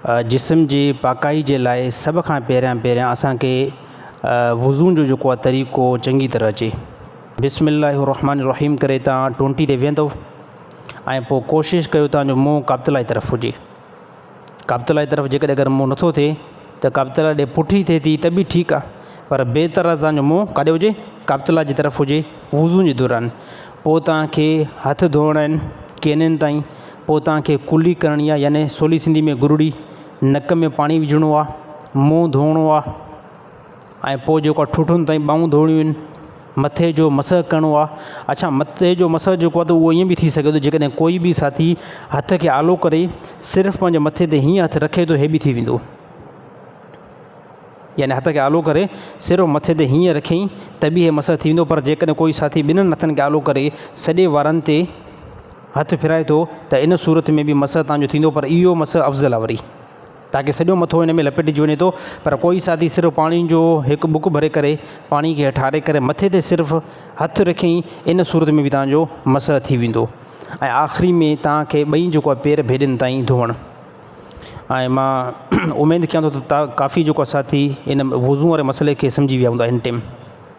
جسم جي پاڪائي جي لاء سڀ کان پهريان پهريان اسان کي وضو جو جيڪو آهي طريقو چنگي طرح اچي بسم الله الرحمٰن الرحيم ڪري تان ٽونٽي تي ويهندو ۽ پوء ڪوشش ڪيو تان جو منهن قابطلائي طرف هجي قابطلائي طرف جيڪڏهن اگر منهن نٿو ٿئي ته قابطلائي ڏي پٺي ٿئي ٿي ته به ٺيڪ آهي پر بهتر آهي تان جو منهن ڪاڏي هجي قابطلائي جي طرف هجي وضو جي دوران پوء تان کي هٿ ڌوئڻا آهن ڪينن تائين پوء توهان کي ڪلي ڪرڻي آهي يعني سولي سنڌي ۾ گرڙي، نڪ ۾ پاڻي وجهڻو آهي، منهن ڌوئڻو آهي ۽ پوء جيڪو آهي ٺوٺن تائين ٻانهون ڌوئڻيون آهن، مٿي جو مسح ڪرڻو آهي، اڇا مٿي جو مسح جيڪو آهي اهو ائين به ٿي سگهي ٿو جيڪڏهن ڪوئي به ساٿي هٿ کي آلو ڪري صرف پنهنجي مٿي تي هيئن هٿ رکي ته هي به ٿي ويندو يعني هٿ کي آلو ڪري صرف مٿي تي هيئن رکيائين ته به هي مسح ٿي ويندو پر جيڪڏهن ڪوئي ساٿي ٻنهن هٿن کي آلو ڪري سڄي وارن تي هٿ ڦيرائي ٿو ته ان صورت ۾ به مسح تان جو ٿيندو پر اهو مسح افضل آهي وري تاڪه سڄو مٿو ان ۾ لپيٽجي وڃي ٿو پر ڪوئي ساٿي صرف پاڻي جو هڪ ٻڪ ڀري ڪري پاڻي کي هيٺاري ڪري مٿي تي صرف هٿ رکين ان صورت ۾ به تان جو مسح ٿي ويندو ۽ آخري ۾ تان کي ٻئي جيڪو آهي پير ڀيڏين تائين ڌوئڻ ۽ مان اميد ڪيان ٿو ته ڪافي جيڪو ساٿي ان وضو واري مسئلي کي سمجهي ويا هوندا هن ٽيم.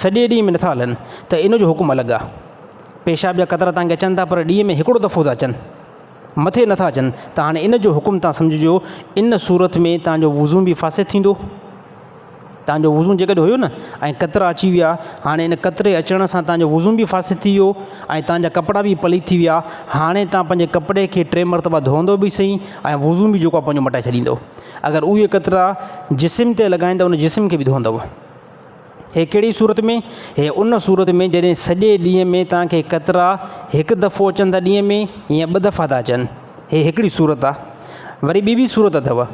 سڄي ڏينهن ۾ نٿا هلن ته ان جو حڪم الڳ آهي. پيشاب جا قطرا تان کي اچن ٿا پر ڏينهن ۾ هڪڙو دفعو ٿا اچن. مٿي نٿا اچن ته هاڻي ان جو حڪم تان سمجهجو ان صورت ۾ تان جو وضو به فاسد ٿيندو. تان جو وضو جيڪڏهن هيو نه ۽ قطرا اچي ويا هاڻي ان قطري اچڻ سان تان جو وضو به فاسد ٿي ويو ۽ تان جا ڪپڙا به پليت ٿي ويا هاڻي تان پنهنجي ڪپڙي کي ٽي مرتبا ڌوئندو به سهي ۽ وضو به جيڪو آهي پنهنجو مٽائي ڇڏيندو. اگر اهي قطرا جسم تي لڳائين ته ان جسم کي به ڌوئندو. هي ڪهڙي صورت ۾؟ هي ان صورت ۾ جڏهن سڄي ڏينهن ۾ توهان کي قطرا هڪ دفعو اچن ٿا ڏينهن ۾ يا ٻه دفعا ٿا اچن. هي هڪڙي صورت آ. وري ٻي به صورت اٿو.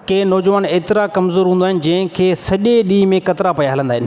ڪي نوجوان ايترا ڪمزور هوندا آهن جنهن کي سڄي ڏينهن ۾ قطرا پيا هلندا آهن.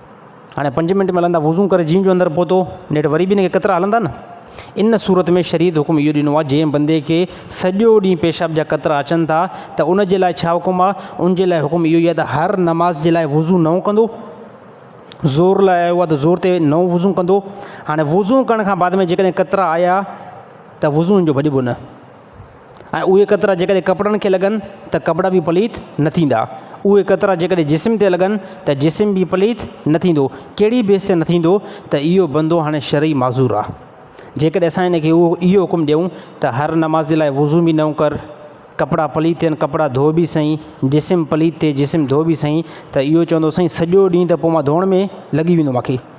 هاڻي پنج منٽ ملندا وضو ڪري جين جو اندر پهتو نيٺ وري به هن کي قطرا هلندا نه ان صورت ۾ شريعت حڪم اهو ڏنو آهي جنهن بندي کي سڄو ڏينهن پيشاب جا قطرا اچن ٿا ته ان جي لاء ڇا حڪم آهي ان جي لاء حڪم اهو ئي آهي ته هر نماز جي لاء وضو نئون ڪندو زور لاء آيو آهي ته زور تي نئون وضو ڪندو هاڻي وضو ڪرڻ کان بعد ۾ جيڪڏهن قطرا آيا ته وضو ان جو ڀڄبو نه ۽ اهي قطرا جيڪڏهن ڪپڙن کي لڳن ته ڪپڙا به پليت نه ٿيندا اهي قطرا جيڪڏهن جسم تي لڳن ته جسم به پليت نه ٿيندو ڪهڙي بيس تي نه ٿيندو ته اهو بندو هاڻي شرعي معذور آهي جيڪڏهن اسان ان کي اهو اهو حڪم ڏيون ته هر نمازي لاء وضو به نئون ڪر ڪپڙا پليت ٿين ڪپڙا ڌو به سهي جسم پليت ٿئي جسم ڌو به سهي ته اهو چوندو سائين سڄو ڏينهن ته پوء مان ڌوئڻ ۾ لڳي ويندو ماکي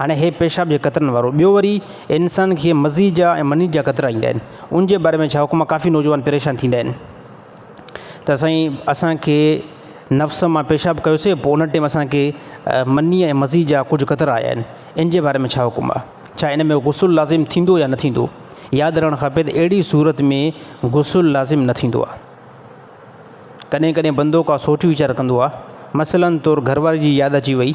هاڻي هي پيشاب جي قطرن وارو. ٻيو وري انسان کي مزي جا ۽ مني جا قطرا ايندا آهن. ان جي باري ۾ ڇا حڪم آهي ڪافي نوجوان پريشان ٿيندا آهن ته سائين اسان کي نفس مان پيشاب ڪيوسي پوء ان ٽيم اسان کي مني ۽ مزي جا ڪجهه قطرا آيا آهن ان جي باري ۾ ڇا حڪم آهي ڇا ان ۾ غسل لازم ٿيندو يا نه ٿيندو ياد رهڻ کپي ته اهڙي صورت ۾ غسل لازم نه ٿيندو آهي. ڪڏهن ڪڏهن بندو ڪا سوچ ويچار ڪندو آهي مثلا طور گهر واري جي ياد اچي وئي.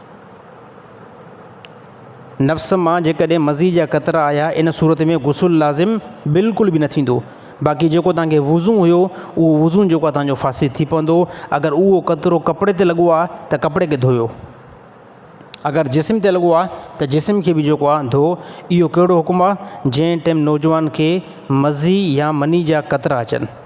نفس مان جيڪڏهن مزي جا قطرا آيا ان صورت ۾ غسل لازم بلڪل به نه ٿيندو باقي جيڪو توهان کي وضو هيو اهو وضو جيڪو توهان جو فاسد ٿي پوندو اگر اهو قطرو ڪپڙي تي لڳو آهي ته ڪپڙي کي ڌويو اگر جسم تي لڳو آهي ته جسم کي به جيڪو آهي ڌو اهو ڪهڙو حڪم آهي جنهن ٽيم نوجوان کي مزي يا مني جا قطرا اچن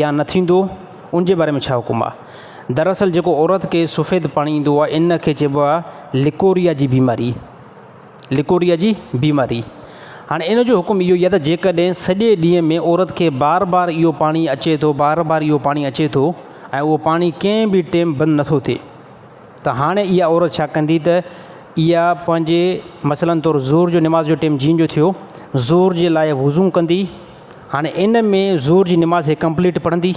يا نه ٿيندو ان جي باري ۾ ڇا حڪم آ؟ دراصل جيڪو عورت کي سفيد پاڻي ايندو آ ان کي چئبو آ لڪوريا جي بيماري لڪوريا جي بيماري هاڻي ان جو حڪم اهو ئي آ ته جيڪڏهن سڄي ڏينهن ۾ عورت کي بار بار اهو پاڻي اچي ٿو بار بار اهو پاڻي اچي ٿو ۽ اهو پاڻي ڪنهن به ٽيم بند نٿو ٿئي ته هاڻي اها عورت ڇا ڪندي ته اها پنهنجي مثلاً طور ظهر جو نماز جو ٽيم جيئن جو ٿيو ظهر جي لاء وضو ڪندي هاڻي ان ۾ ظهر جي نماز هي ڪمپليٽ پڙهندي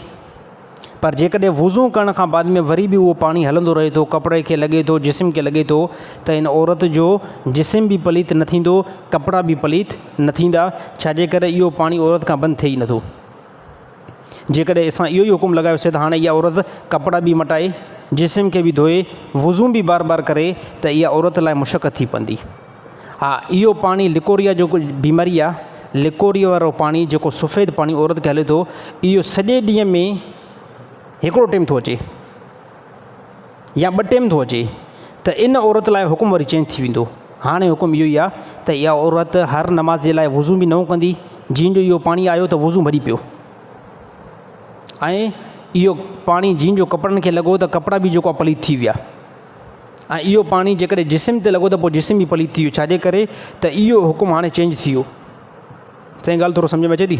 پر جيڪڏهن وضو ڪرڻ کان بعد ۾ وري به اهو پاڻي هلندو رهي ٿو ڪپڙي کي لڳي ٿو جسم کي لڳي ٿو ته ان عورت جو جسم به پليت نه ٿيندو ڪپڙا به پليت نه ٿيندا ڇاجي ڪري اهو پاڻي عورت کان بند ٿئي ئي نٿو جيڪڏهن اسان اهو ئي حڪم لڳايو سي ته هاڻي اها عورت ڪپڙا به مٽائي، جسم کي به ڌوئي، وضو به بار بار ڪري ته اها عورت لاء مشقت ٿي پوندي. ها اهو پاڻي لڪوريا جو بيماري آهي، لڪوريا وارو پاڻي جيڪو سفيد پاڻي عورت کي هلي ٿو اهو سڄي ڏينهن ۾ هڪڙو ٽيم ٿو اچي. يا ٻه ٽيم ٿو اچي ته ان عورت لاء حڪم وري چينج ٿي ويندو. هاڻي حڪم اهو ئي آ ته اها عورت هر نماز جي لاء وضو به نئون ڪندي، جيئن جو اهو پاڻي آيو ته وضو ڀري پيو ۽ اهو پاڻي جيئن جو ڪپڙن کي لڳو ته ڪپڙا به جيڪو آ پليت ٿي ويا ۽ اهو پاڻي جيڪڏهن جسم تي لڳو ته پوء جسم به پليت ٿي ويو ڇاجي ڪري ته اهو حڪم هاڻي چينج ٿي ويو سائين ڳالهه ٿورو سمجهه ۾ اچي ٿي.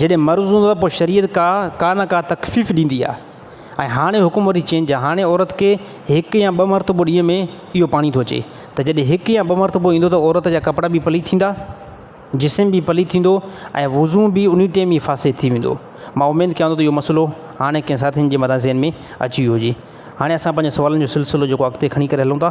جڏهن مرض هوندو آهي پوء شريعت ڪا ڪا نه ڪا تخفيف ڏيندي آهي ۽ هاڻي حڪم وري چينج آهي هاڻي عورت کي هڪ يا ٻه مرتبو ڏينهن ۾ اهو پاڻي ٿو اچي ته جڏهن هڪ يا ٻه مرتبو ايندو ته عورت جا ڪپڙا به پليت ٿيندا جسم به پليت ٿيندو ۽ وضو به ان ئي ٽيم فاسد ٿي ويندو مان اميد ڪيان ٿو ته اهو مسئلو هاڻي ڪنهن ساٿين جي مٿان ذهن ۾ اچي ويو هجي هاڻي اسان پنهنجي سوالن جو سلسلو جيڪو اڳتي کڻي ڪري هلون ٿا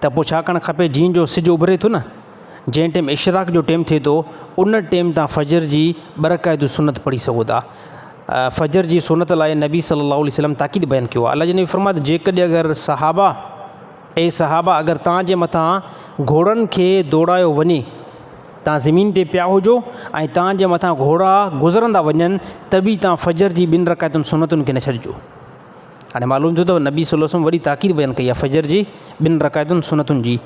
ته پوء ڇا ڪرڻ کپي جيئن جو سج اڀري ٿو نه جنهن ٽيم اشراق جو ٽيم ٿئي ٿو ان ٽيم تان فجر جي ٻه رڪعتون سنت پڙهي سگهو ٿا فجر جي سنت لاء نبي صلي الله عليه وسلم تاڪيد بيان ڪيو آهي الله جي نبي فرمايو ته جيڪڏهن اگر صحابه اي صحابه اگر توهان جي مٿان گهوڙن کي دوڙايو وڃي توهان زمين تي پيا هجو ۽ توهان جي مٿان گهوڙا گذرندا وڃن ته به توهان فجر جي ٻن رڪعتن سنتن کي نه ڇڏجو هاڻي معلوم ٿيو ته نبي صلي الله عليه وسلم وڏي تاڪيد بيان ڪئي آهي فجر جي ٻن رڪعتن سنتن جي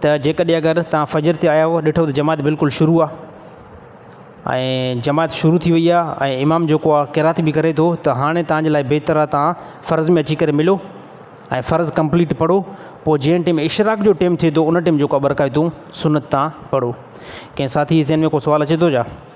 ته جيڪڏهن اگر تان فجر تي آيا هئا ڏٺو ته جماعت بلڪل شروع آهي ۽ جماعت شروع ٿي وئي آهي ۽ امام جيڪو آهي قرات به ڪري ٿو ته هاڻي تان جي لاء بهتر آهي تان فرض ۾ اچي ڪري ملو ۽ فرض ڪمپليٽ پڙهو پوء جنهن ٽيم اشراق جو ٽيم ٿئي ٿو ان ٽيم جيڪو ٻه رڪعتون سنت تان پڙهو ڪنهن ساٿي جي ذهن ۾ ڪو سوال اچي ٿو جا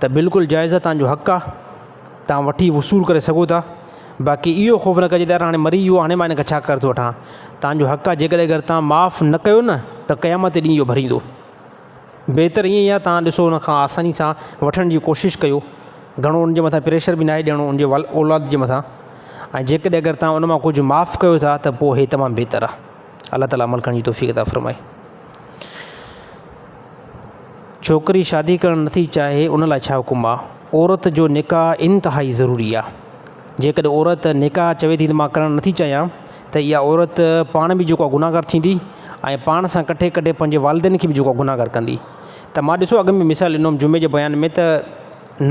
ته بلڪل جائز آ تان جو حق آ تان وٺي وصول ڪري سگهو ٿا باقي اهو خوف نه ڪجي ته يار هاڻي مري ويو هاڻي مان هنکان ڇا قرض ٿو وٺان تان جو حق آ جيڪڏهن اگر تان معاف نه ڪيو نه ته قيامت ڏينهن اهو ڀريندو بهتر ائين آ تان ڏسو ان کان آساني سان وٺڻ جي ڪوشش ڪيو گهڻو ان جي مٿان پريشر به ناهي ڏيڻو ان جي اولاد جي مٿان ۽ جيڪڏهن اگر تان ان مان ڪجهه معاف ڪيو ٿا ته پوء هي تمام بهتر آ الله تعالي عمل ڪرڻ جي توفيق عطا فرمائي. ڇوڪري شادي ڪرڻ نٿي چاهي ان لاء ڇا حڪم آ. عورت جو نڪاح انتهائي ضروري آ. جيڪڏهن عورت نڪاح چوي ٿي ته مان ڪرڻ نٿي چاهيان ته اها عورت پاڻ به جيڪو آ گناهگار ٿيندي ۽ پاڻ سان ڪٺي ڪٺي پنهنجي والدين کي به جيڪو آ گناهگار ڪندي. ته مان ڏسو اڳ ۾ مثال ڏنو هوم جمعي جي بيان ۾ ته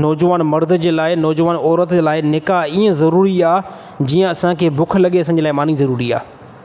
نوجوان مرد جي لاء نوجوان عورت جي لاء نڪاح ائين ضروري آ جيئن اسانکي بک لڳي اسانجي لاء ماني ضروري آ.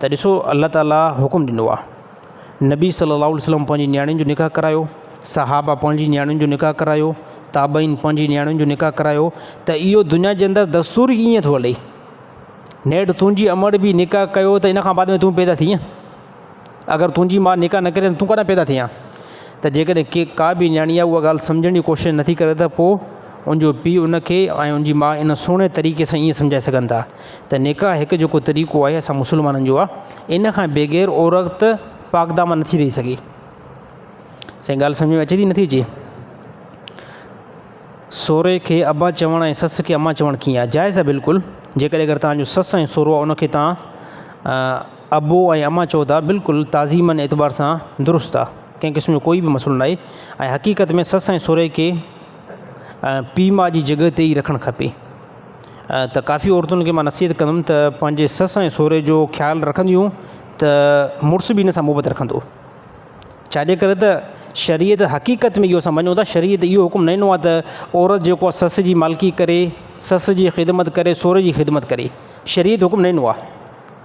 ته ڏسو الله تعاليٰ حڪم ڏنو آهي نبي صلي الله عليه وسلم پنهنجي نياڻين جو نڪاح ڪرايو صحابه پنهنجي نياڻين جو نڪاح ڪرايو تابعين پنهنجي نياڻين جو نڪاح ڪرايو ته اهو دنيا جي اندر دستور ئي ائين ٿو هلي نيٺ تنهنجي امڙ به نڪاح ڪيو ته ان کان بعد ۾ تون پيدا ٿينء اگر تنهنجي ماء نڪاح نه ڪري ته تون ڪڏهن پيدا ٿيئين؟ ته جيڪڏهن ڪي ڪا به نياڻي اها ڳالهه سمجهڻ جي ڪوشش نه ٿي ڪري ته پوء ان جو پيء ان کي ۽ ان جي ماء ان سهڻي طريقي سان ائين سمجهائي سگهن ٿا ته نڪاح هڪ جيڪو طريقو آهي اسان مسلمانن جو آهي ان کان بغير عورت پاڪدامن نه ٿي رهي سگهي. سائين ڳالهه سمجهه ۾ اچي ٿي نه ٿي اچي؟ سهري کي ابا چوڻ ۽ سس کي اما چوڻ ڪيئن آهي؟ جائز آهي بلڪل جيڪڏهن اگر توهان جو سس ۽ سهرو آهي ان کي توهان ابو ۽ اما چئو ٿا بلڪل تعظيم ان اعتبار سان درست آ ڪنهن قسم جو ڪوئي به مسئلو ناهي ۽ حقيقت ۾ سس ۽ سورهي کي پيء ماء جي جڳهه تي ئي رکڻ کپي ته ڪافي عورتن کي معنيٰ نصيحت ڪندم ته پنهنجي سس ۽ سورهي جو خيال رکنديون ته مڙس به ان سان محبت رکندو ڇاجي ڪري ته شريعت حقيقت ۾ اهو سمجهندو ته شريعت اهو حڪم نه ڏنو آ ته عورت جيڪو آ سس جي مالڪي ڪري سس جي خدمت ڪري سورهي جي خدمت ڪري شريعت حڪم نه ڏنو آ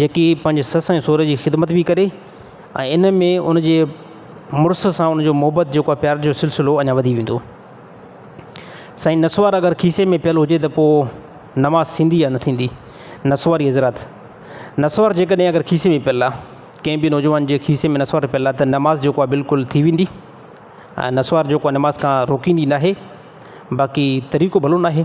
جيڪي پنهنجي سس ۽ سهري جي خدمت به ڪري ۽ ان ۾ ان جي مڙس سان ان جو محبت جيڪو آهي پيار جو سلسلو اڃا وڌي ويندو سائين نسوار اگر کيسي ۾ پيل هجي ته پوء نماز ٿيندي يا نه ٿيندي نسواري حضرات نسوار جيڪڏهن اگر کيسي ۾ پيل آهي ڪنهن به نوجوان جي کيسي ۾ نسوار پيل آهي ته نماز جيڪو آهي بلڪل ٿي ويندي نسوار جيڪو آهي نماز کان روڪيندي ناهي باقي طريقو ڀلو ناهي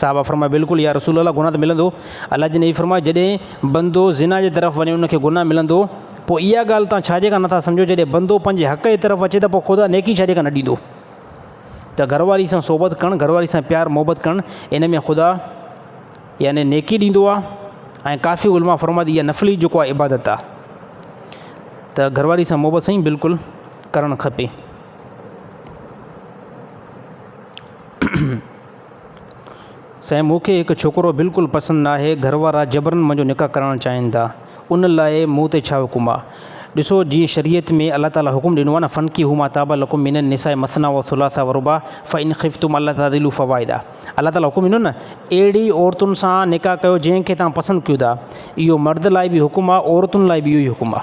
صحابه فرمايو بلڪل يا رسول الله گناھ ته ملندو الله جي نبي فرمايو جڏهن بندو زنا جي طرف وڃي ان کي گناھ ملندو پوء اها ڳالھ توهان ڇاجي ڪا نٿا سمجهو جڏهن بندو پنهنجي حق جي طرف اچي ته پوء خدا نيڪي ڇاجي ڪا نه ڏيندو ته گهر واري سان صحبت ڪرڻ گهر واري سان پيار محبت ڪرڻ ان ۾ خدا يعني نيڪي ڏيندو آ ۽ ڪافي علماء فرمائي ٿي اها نفلي جيڪو آ عبادت آ ته گهر واري سان محبت سائين بلڪل ڪرڻ کپي سائين مون کي هڪ ڇوڪرو بلڪل پسند ناهي، گهر وارا جبرن منهنجو نڪاح ڪرائڻ چاهين ٿا، ان لاء مون تي ڇا حڪم آ؟ ڏسو جيئن شريعت ۾ الله تعالي حڪم ڏنو آ نه فنڪحو ما طاب لڪم من النساء مثني و ثلاث و رباع فان خفتم الا تعدلوا فواحده الله تعالي حڪم ڏنو نه اهڙي عورتن سان نڪاح ڪيو جنهن کي توهان پسند ڪيو ٿا اهو مرد لاء به حڪم آ عورتن لاء به اهو ئي حڪم آ.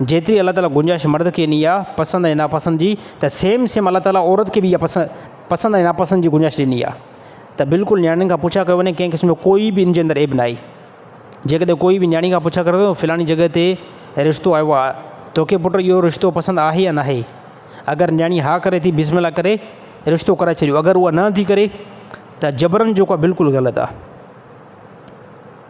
جيتري الله تعالي گنجائش مرد کي ڏني آهي پسند ۽ ناپسند جي ته سيم سيم الله تعالي عورت کي به اها پسند پسند ۽ ناپسند جي گنجائش ڏني آهي ته بلڪل نياڻين کان پڇا ڪيو وڃي ڪنهن قسم جو ڪوئي به ان جي اندر عيب ناهي جيڪڏهن ڪوئي به نياڻي کان پڇا ڪريو ته فلاني جڳهه تي رشتو آيو آهي توکي پٽ اهو رشتو پسند آهي يا ناهي اگر نياڻي ها ڪري ٿي بسم الله ڪري رشتو ڪرائي ڇڏيو اگر اها نه ٿي ڪري ته جبرن جيڪو آهي بلڪل غلط آهي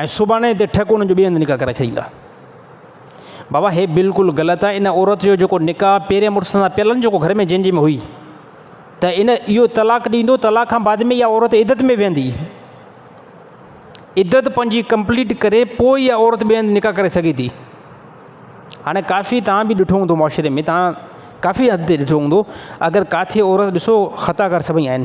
۽ سڀاڻي جي تي ٺڪ ان جو ٻئي هنڌ نڪاح ڪرائي ڇڏيندا. بابا هي بلڪل غلط آهي ان عورت جو جيڪو نڪاح پهرين مڙس سان پيل آهن جيڪو گهر ۾ جنهن جي ۾ هئي ته ان اهو طلاق ڏيندو طلاق کان بعد ۾ اها عورت عدت ۾ ويهندي عدت پنهنجي ڪمپليٽ ڪري پوء اها عورت ٻئي هنڌ نڪاح ڪري سگهي ٿي هاڻي ڪافي تان به ڏٺو هوندو معاشري ۾ تان ڪافي حد تي ڏٺو هوندو اگر ڪاٿي عورت ڏسو خطا ڪار سڀئي آهن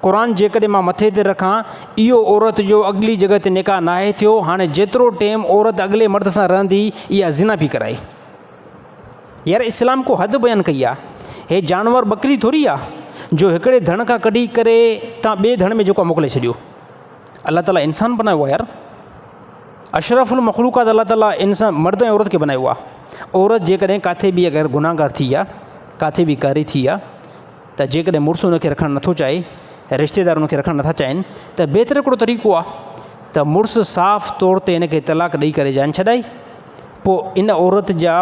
قرآن جيڪڏهن مان مٿي تي رکان، اهو عورت جو اڳلي جڳهه تي نڪاح ناهي ٿيو، هاڻي جيترو ٽيم عورت اڳلي مرد سان رهندي، اها زنا پي ڪرائي. يار اسلام ڪو حد بيان ڪئي آ. هي جانور ٻڪري ٿوري آ جو هڪڙي ڌڻ کان ڪڍي ڪري تان ٻئي ڌڻ ۾ جيڪو آ موڪلي ڇڏيو. الله تعاليٰ انسان بنايو آ يار. اشرف المخلوقات الله تعاليٰ انسان مرد ۽ عورت کي بنايو آ. عورت جيڪڏهن ڪاٿي به اگر گناهگار ٿي آ، ڪاٿي به ڪاري ٿي آ، ته جيڪڏهن مڙس ان کي رکڻ نٿو چاهي، رشتيدار ان کي رکڻ نٿا چاهين ته بهتر هڪڙو طريقو آهي ته مڙس صاف طور تي ان کي طلاق ڏئي ڪري جان ڇڏائي. پوء ان عورت جا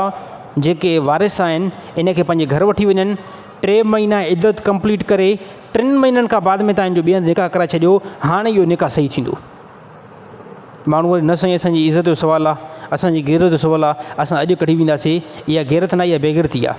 جيڪي وارث آهن ان کي پنهنجي گهر وٺي وڃن، ٽي مهينا عدت ڪمپليٽ ڪري ٽن مهينن کان بعد ۾ تان هن جو ٻئي هنڌ نڪاح ڪرائي ڇڏيو، هاڻ اهو نڪاح صحيح ٿيندو. ماڻهو وري نه سائين اسان جي عزت جو سوال آهي، اسان جي غيرت جو سوال آهي، اسان اڄ ڪڍي وينداسين، اها غيرت ناهي اها بيغيرتي آهي.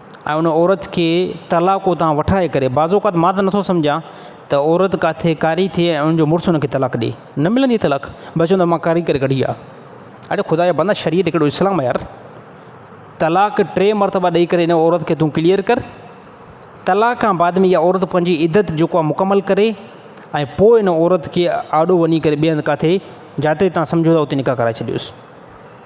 ۽ ان عورت کي طلاق اتان وٺائي ڪري بعض اوقات مان ته نٿو سمجهان ته عورت ڪاٿي ڪاري ٿئي ۽ انجو مڙس انکي طلاق ڏئي نه ملندي طلاق بس چوندو مان ڪاري ڪري ڪڍي آ اڙي خدا جا بندا شريعت ڪهڙو اسلام آ يار طلاق ٽي مرتبه ڏئي ڪري ان عورت کي تون ڪليئر ڪر طلاق کان بعد ۾ اها عورت پنهنجي عدت جيڪو آ مڪمل ڪري ۽ پوء ان عورت کي آڏو وڃي ڪري ٻئي هنڌ ڪاٿي جاتي تان سمجهو ٿا اتي نڪاح ڪرائي ڇڏيوس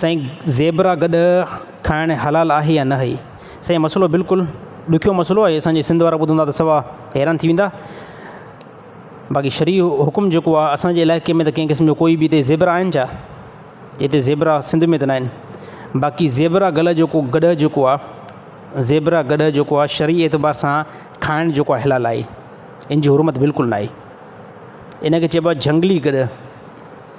سائين زيبرا گڏهه کائڻ حلال آهي يا ناهي سائين مسئلو بلڪل ڏکيو مسئلو آهي اسان جي سنڌ وارا ٻڌندا ته سوا حيران ٿي ويندا باقي شرعي حڪم جيڪو آهي اسان جي علائقي ۾ ته ڪنهن قسم جو ڪوئي به هتي زيبرا آهن ڇا هتي زيبرا سنڌ ۾ ته ناهن باقي زيبرا گڏهه جيڪو گڏهه جيڪو آهي زيبرا گڏهه جيڪو آهي شرعي اعتبار سان کائڻ جيڪو آهي حلال آهي ان جي حرمت بلڪل ناهي ان کي چئبو آهي جهنگلي گڏهه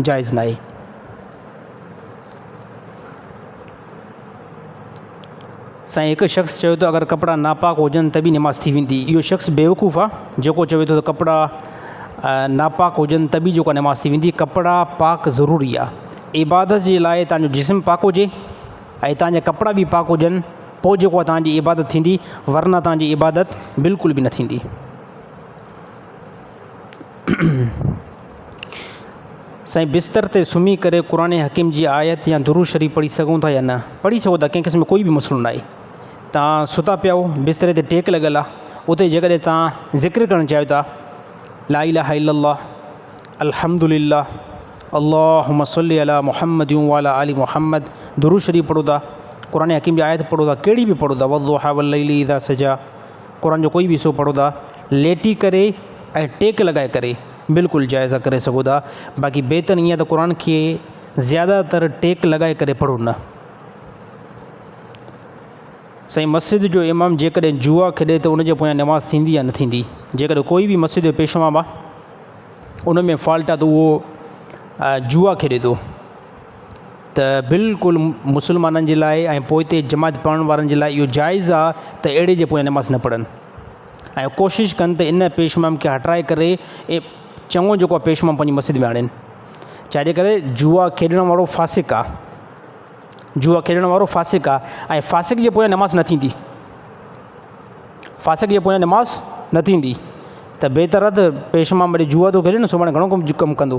جائز ناهي. سائين هڪ شخص چوي ٿو اگر ڪپڙا ناپاڪ هجن ته به نماز ٿي ويندي اهو شخص بيوقوف آهي جيڪو چوي ٿو ته ڪپڙا ناپاڪ هجن ته به جيڪو نماز ٿي ويندي ڪپڙا پاڪ ضروري آهي عبادت جي لاء تانجو جسم پاڪ هجي ۽ تانجا ڪپڙا به پاڪ هجن پوء جيڪو تانجي عبادت ٿيندي ورنه تانجي عبادت بلڪل به نه ٿيندي. سائين بستر تي سمهي ڪري قرآن حڪيم جي آيت يا درود شريف پڙهي سگهون ٿا يا نه پڙهي سگهو ٿا ڪنهن قسم جو ڪوئي به مسئلو ناهي تان ستا پيا آهو بستري تي ٽيڪ لڳل آهي اتي جيڪڏهن تان ذڪر ڪرڻ چاهيو ٿا لا اله الا الله الحمد لله اللهم صل على محمد وعلى آل محمد درود شريف پڙهو ٿا قرآن حڪيم جي آيت پڙهو ٿا ڪهڙي به پڙهو ٿا والضحا والليل اذا سجا قرآن جو ڪوئي به حصو پڙهو ٿا ليٽي ڪري ۽ ٽيڪ لڳائي ڪري بلڪل جائز آ ڪري سگهو ٿا باقي بهتر ائين آ ته قرآن کي زياده تر ٽيڪ لڳائي ڪري پڙهو نه. سائين مسجد جو امام جيڪڏهن جوا کيڏي ته ان جي پويان نماز ٿيندي يا نه ٿيندي جيڪڏهن ڪوئي به مسجد جو پيشو امام آ ان ۾ فالٽ آ ته اهو جوا کيڏي ٿو ته بلڪل مسلمانن جي لاء ۽ پوئتي جماعت پڙهڻ وارن جي لاء اهو جائز آ ته اهڙي جي پويان نماز نه پڙهن ۽ ڪوشش ڪن ته ان پيش امام کي هٽائي ڪري ائين چڱو جيڪو پيش امام پنهنجي مسجد ۾ آڻين ڇاجي ڪري جوا کيڏڻ وارو فاسق آ جوا کيڏڻ وارو فاسق آ ۽ فاسق جي پويان نماز نه ٿيندي فاسق جي پويان نماز نه ٿيندي ته بهتر آ ته پيش امام جوا ٿو کيڏي سڀاڻي گهڻو ڪم ڪندو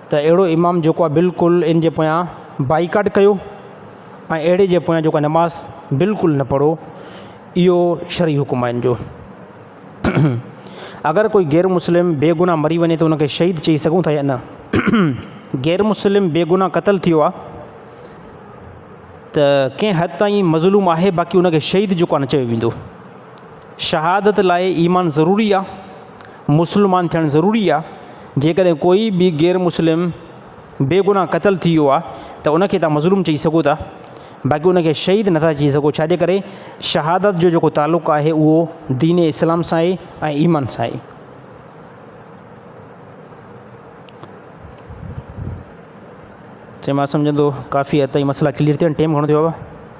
ته اهڙو امام جيڪو آهي بلڪل ان جي پويان بائيڪاٽ ڪيو ۽ اهڙي جي پويان جيڪو آهي نماز بلڪل نه پڙهو اهو شرعي حڪم آهي ان جو اگر ڪوئي غير مسلم بي گناهه مري وڃي ته ان کي شهيد چئي سگهون ٿا يا نه غير مسلم بي گناهه قتل ٿيو آهي ته ڪنهن حد تائين مظلوم آهي باقي ان کي شهيد جيڪو آهي نه چيو ويندو شهادت لاء ايمان ضروري آ، مسلمان ٿيڻ ضروري آ، جيڪڏهن ڪوئي به غير مسلم بي گناهه قتل ٿي ويو آ ته ان کي تهان مظلوم چئي سگهو ٿا باقي ان کي شهيد نه ٿا چئي سگهو ڇا جي ڪري شهادت جو جيڪو تعلق آهي اهو دين اسلام سان آهي ۽ ايمان سان آهي. چي مان سمجهان ٿو ڪافي حد تائين مسئلا ڪليئر ٿيا آهن ٽيم گهڻو ٿيو آ.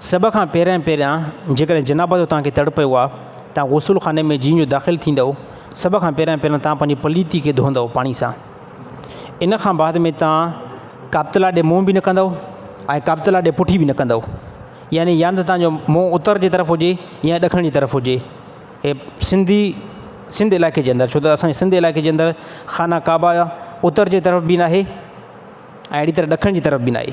سڀ کان پهريان پهريان جيڪڏهن جناب جو توهان کي تڙ پيو آهي، توهان غسل خاني ۾ جيئن جو داخل ٿيندؤ، سڀ کان پهريان پهريان توهان پنهنجي پليتي کي ڌوئندؤ پاڻي سان. ان کان بعد ۾ توهان قابطلا ڏي منهن به نه ڪندؤ ۽ قابطلا ڏي پٺي به نه ڪندؤ. يعني يا ته توهان جو منهن اتر جي طرف هجي يا ڏکڻ جي طرف هجي. هي سنڌي سنڌ علائقي جي اندر ڇو ته اسان جي سنڌ علائقي جي اندر خانه ڪعبه اتر جي طرف به ناهي ۽ اهڙي طرح ڏکڻ جي طرف به ناهي.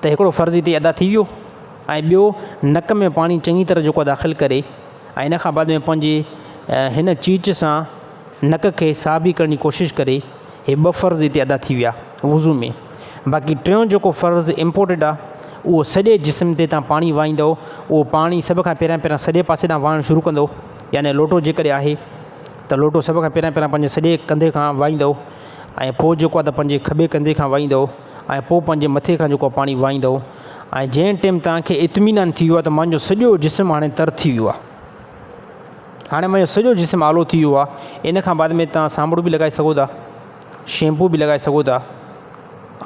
ته هڪڙو فرض هتي ادا ٿي ويو ۽ ٻيو نڪ ۾ پاڻي چڱي طرح جيڪو داخل ڪري ۽ ان کان بعد ۾ پنهنجي هن چيچ سان نڪ کي صاف به ڪرڻ جي ڪوشش ڪري هي ٻه فرض هتي ادا ٿي ويا وضو ۾ باقي ٽيون جيڪو فرض امپورٽنٽ آ اهو سڄي جسم تي تان پاڻي وائيندو اهو پاڻي سڀ کان پهريان پهريان سڄي پاسي تان وائڻ شروع ڪندو يعني لوٽو جي ڪري آهي ته لوٽو سڀ کان پهريان پهريان پنهنجي سڄي ڪنڌي کان وائيندو ۽ پوء جيڪو آ ته پنهنجي کٻي ڪنڌي کان وائيندو ۽ پوء پنهنجي مٿي کان جيڪو پاڻي وهائيندؤ ۽ جنهن ٽيم توهان کي اطمينان ٿي ويو آهي ته منهنجو سڄو جسم هاڻي تر ٿي ويو آهي هاڻي منهنجو سڄو جسم آلو ٿي ويو آهي ان کان بعد ۾ توهان سانڀڙو به لڳائي سگهو ٿا شيمپو به لڳائي سگهو ٿا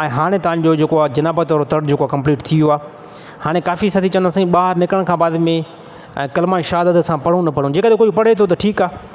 ۽ هاڻي توهان جو جيڪو آهي جنابت وارو تڙ جيڪو آهي ڪمپليٽ ٿي ويو آهي هاڻي ڪافي ساٿي چوندا سائين ٻاهر نڪرڻ کان بعد ۾ ڪلمه شهادت اسان پڙهون نه پڙهون جيڪڏهن ڪوئي پڙهي ٿو ته ٺيڪ آهي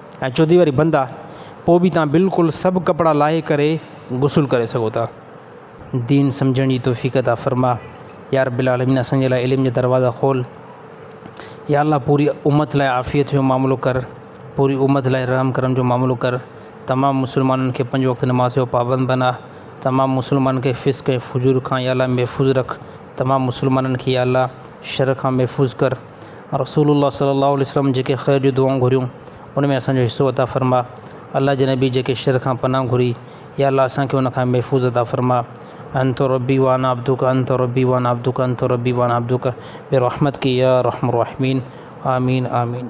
۽ چوٿي واري بند آ پوء به تان بلڪل سڀ ڪپڙا لاهي ڪري غسل ڪري سگهو ٿا. دين سمجهڻ جي توفيق عطا فرما يا رب العالمين اسان جي لاء علم جا دروازا کول يا الله پوري امت لاء عافيت جو معاملو ڪر پوري امت لاء رحم ڪرم جو معاملو ڪر تمام مسلمانن کي پنج وقت نماز جو پابند بنا تمام مسلمانن کي فسق ۽ فجور کان يا الله محفوظ رک تمام مسلمانن کي يا الله شر کان محفوظ ڪر. رسول الله صلي الله عليه وسلم جيڪي خير جون دعائون گهريون ان ۾ اسان جو حصو عطا فرما الله جي نبي جيڪي شر کان پناهه گهري يا الله اسان کي ان کان محفوظ عطا فرما انت ربي وانا عبدك انت ربي وانا عبدك انت ربي وانا عبدك برحمتك يا ارحم الراحمين آمين آمين.